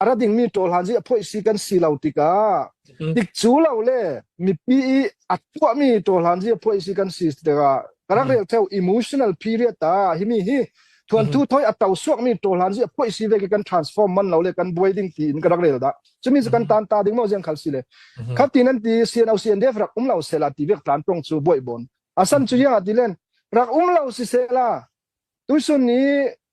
a ra dingmi ṭawlhlan hi a phoih si kan si lo tikah tik cu lo le mipi i a tuahmi ṭawlhlan hi a phoih si kan si tikah ka rak rel theo emotional period ah hi mi hi thuanthu thoi a to suakmi ṭawlhlan hi a phoih si ve ke kan transform man lo le kan buai ding ti in ka rak rel da cumi cu kan tan ta ding mo ziang khal si le khatin an ti CNO CNDF rak um lo sela ti vek tlan tong cu boi bon asan cu yang atilen rak um lo si sela tusun ni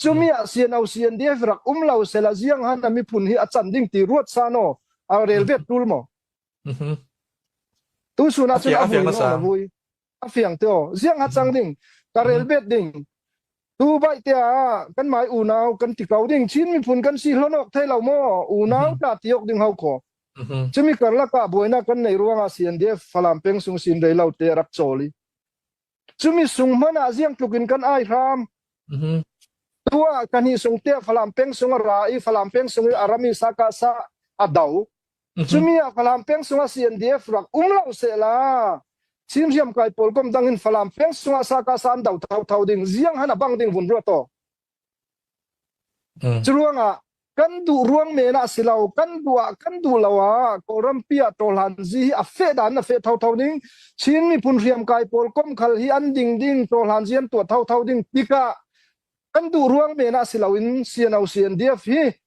Cumi ah CNO CNDF rak um lo sela ziang han a miphun hi a can ding ti ruat san o a rel vet tul mo tu sun a cun a vui a vui a fiang te o ziang ha chang ding ka rel bet ding tu bai te a kan mai unau kan ti kau ding chin miphun kan si hlonok thei lo mo unau ta ti ok ding hau ko chimi karla ka boina kan nei ruanga CNDF falam peng sung sin rei lo te rak choli Cumi sung hmanh ah ziang tluk in kan ai hram. Tua kan hi sung te Falam peng sung a ra i Falam peng sung i a rami saka sa a do. Cumi a Falam peng sung a CNDF rak um lo se la. Cim riam kai pawl kom dang in Falam peng sung a saka sa an do thau thau ding ziang han a bang ding vun ruato. Curuangah kan duh ruang men ah si lo, kan duh ah kan duh lo ah Kawlrampi ah Tawhlanzi hi a feh dan a feh thotho ding Chin miphun hriamkai pawl komkhal hi an ding ding Tawhlanzi an tuah thotho ding tikah kan duh ruang men ah si lo in CNO CNDF hi